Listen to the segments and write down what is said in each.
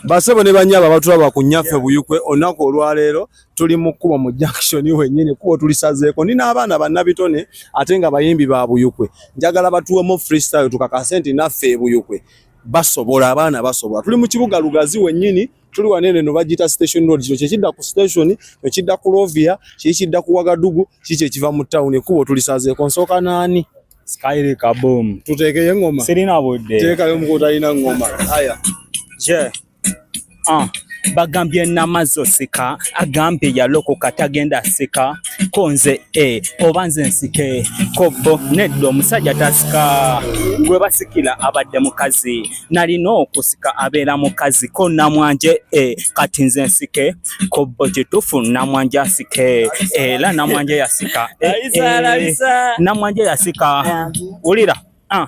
Basebo ne banyaba batulaba ku nyaffe buyukwe onaku olwaleero tuli mu kkubo mu junction wenyini kubo tulisazeeko nina abaana bannabitone ate nga bayimbi ba buyukwe njagala batuwemu freestyle tukakase nti naffe ebuyukwe basobola abaana basobola tuli mu kibuga lugazi wenyini tuli wanene no bagita station road kyo kyekidda ku station kyekidda ku lovia kyekidda ku wagadugu kiki ekiva mu town ekubo tulisazeeko nsooka naani Skyri kaboom. Tuteekeye ngoma. Sirina budde. Teekayo omukutu alina ngoma. Haya. Je. Ah. bagambye namazo sika agambye yalokoka tagenda sika konze e oba nze nsike kobbo nedda omusajja tasika gwe basikira abadde mukazi nalina okusika abeera mukazi ko namwanje eh, kati nze nsike kobbo kitufu namwanje asike era eh, namwanje yasika eh, eh, namwanje yasika wulira ah.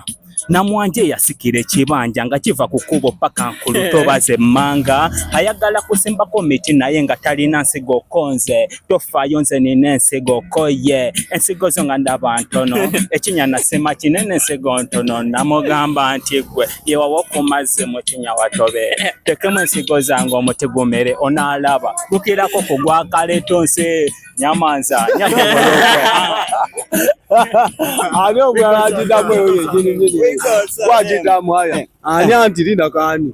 namwanje yasikira ekibanja nga kiva ku kubo paka nkulutobaze manga ayagala kusimbako miti naye nga talina nsigo konze tofayo nze nina ensigo koye ensigo zo nga ndaba ntono ekinya nasema kinene ensigo ntono namugamba nti gwe yewawo okumazzi mu kinya watobe tekemu ensigo zange omuti gumere onaalaba tukirako ku gwakaleto nsi nyamanza ani omulala agidamu eyo yegini gini wagidamu aya ani anti linda kani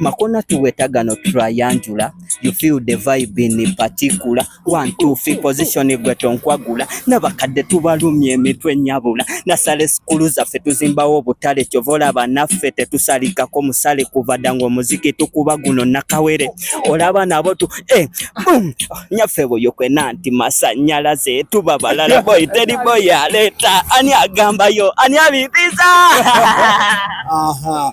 Makona tuwetaga no triangular you feel the vibe in particular one two three position gwe tonkwagula nabakadde tubalumye emitwe nyabula nasale sikulu zaffe tuzimbawo obutale kyovola banaffe tetusalikako musale kuvada nga omuziki tukuba guno nakawere olaba nabo tu eh, boom nyaffe boyo kwena nti masanyalaze tuba balala boy teri boy aleta ani agambayo ani abibiza aha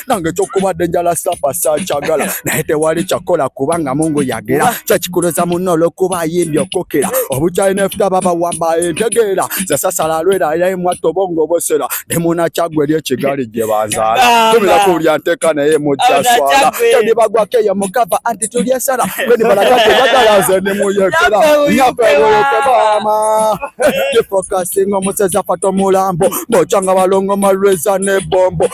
nange ekyokubadde njala sapa sakyagala naye tewali kyakola kubanga mungu yagera kyekikuloza munno olwokuba ayimbye okukira obukyayi nefuta babawamba entegeera zasasala alwera yaye mwatta obongo obosera ne munakyagwe eri ekigali gye banzaala tumira ku buli anteeka naye mujja swala tandibagwako eyo mukava anti tuli esala beni balaga tebagala nze ne muyekera nyafewoyoke baama gifokasinga omusezi afata omulambo bokyanga balongo malweza ne bombo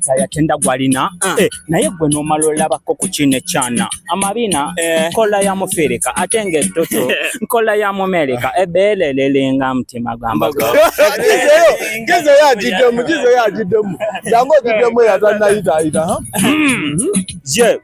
Mukisa yatenda gwalina ah. eh, naye gwe nomala olabako ku kino ekyana amabina eh. nkola ya mufirika ate nga ettutu nkola ya mumerika ebeelelelenga mutima gwambagezeyo agiddemu gezeyo agiddemu jangu ogiddemu yatanayitayita ye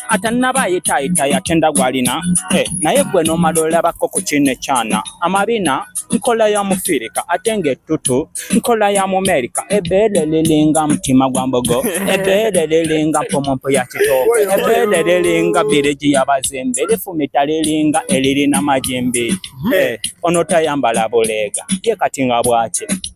atanaba ayitayita yatenda gwalina eh, naye gwe nomala olabako ku kino ekyana amabina nkola ya mufirika ate ng'ettutu nkola ya mumerika ebeere liringa mutima gwa mbogo ebeere liringa mpumumpu ya kitooke ebeere liringa birigi yabazimbi lifumita liringa elirina majimbi eh, onotayambala buleega ye kati nga bwaki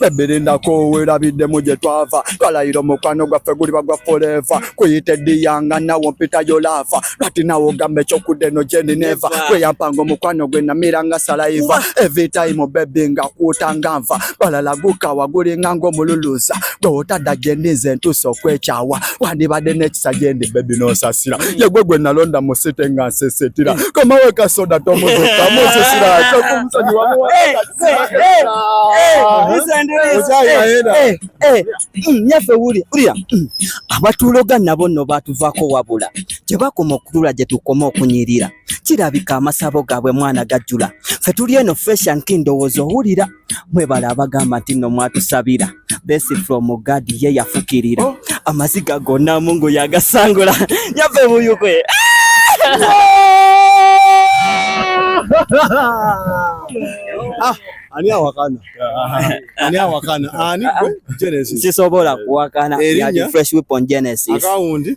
bebiri ndakuwira biddemu gye twava twalayira omukwano gwaffe guliba gwa forever kuyita ediyanga nawo mpitayo laafa lwati nawe ogamba ekyokudda eno gyendi neva gweyampanga omukwano gwe namiranga salaiva every time bebi nga kuutanga nva balala gukawa gulinga ng'omululuza gwe otadda gyendi nze ntuusa okwekyawa wandibadde n'ekisa gyendi bebi n'onsasira mm. yegwe gwe nalonda mu site nga nsesetira mm. komawe kasoda tomuzuka musisira tokumusonyi nyaffe wulya ulya mm. abatuuloga nabo nno baatuvaako wabula tebakoma okutula gye tukoma okunyirira kirabika amasabo gaabwe mwana gajjula ffe tuli eno feshanki ndowooza owulira mwebale abagamba nti no mwatusabira besi from God ye yafukirira oh. amaziga gonna mungu yagasangula nyave buyukwe ah, ani awakana ani awakana ani Genesis sisobola kuwakana ya fresh weapon Genesis akawundi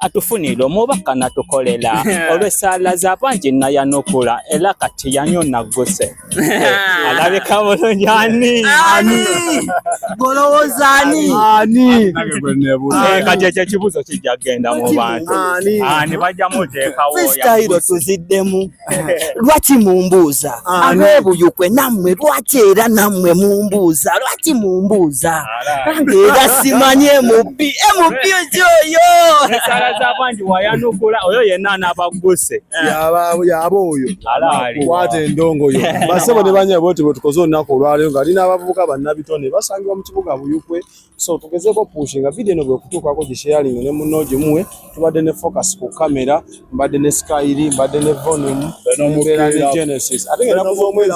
atufunira omubaka natukolela olw'essaala za bangi nayanukula era kati yanyo nagguse eh, alabika bulungi ani golowooza ani eh, kati ekyo ekibuuzo kijja kugenda mu bantu ani bajja muteekawo tuzidemu lwaki mumbuuza abebuyukwe nammwe lwaki era nammwe mumbuuza lwaki mumbuuza bange era simanyi mp mp oyo oyo yenna anabagguse yaba oyo kwata endongo yo basebo ne banyabo nti bwetukoze olunaku olwaleero nga ali n'abavubuka bannabitone basangibwa mu kibuga buyukwe so tugezeko pushinga video eno bwekutuukako gisheyalinga ne munno gimuwe tubadde ne focus ku kamera mbadde ne skyri mbadde ne volume mbeera ne genesis ate nga enaku z'omwezi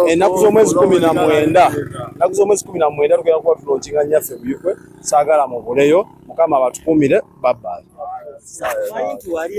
enaku z'omwezi kumi na mwenda enaku z'omwezi kumi na mwenda tugenda kuba tulonkinga nyaffe buyukwe saagala mubuleyo mukama abatukumire babbali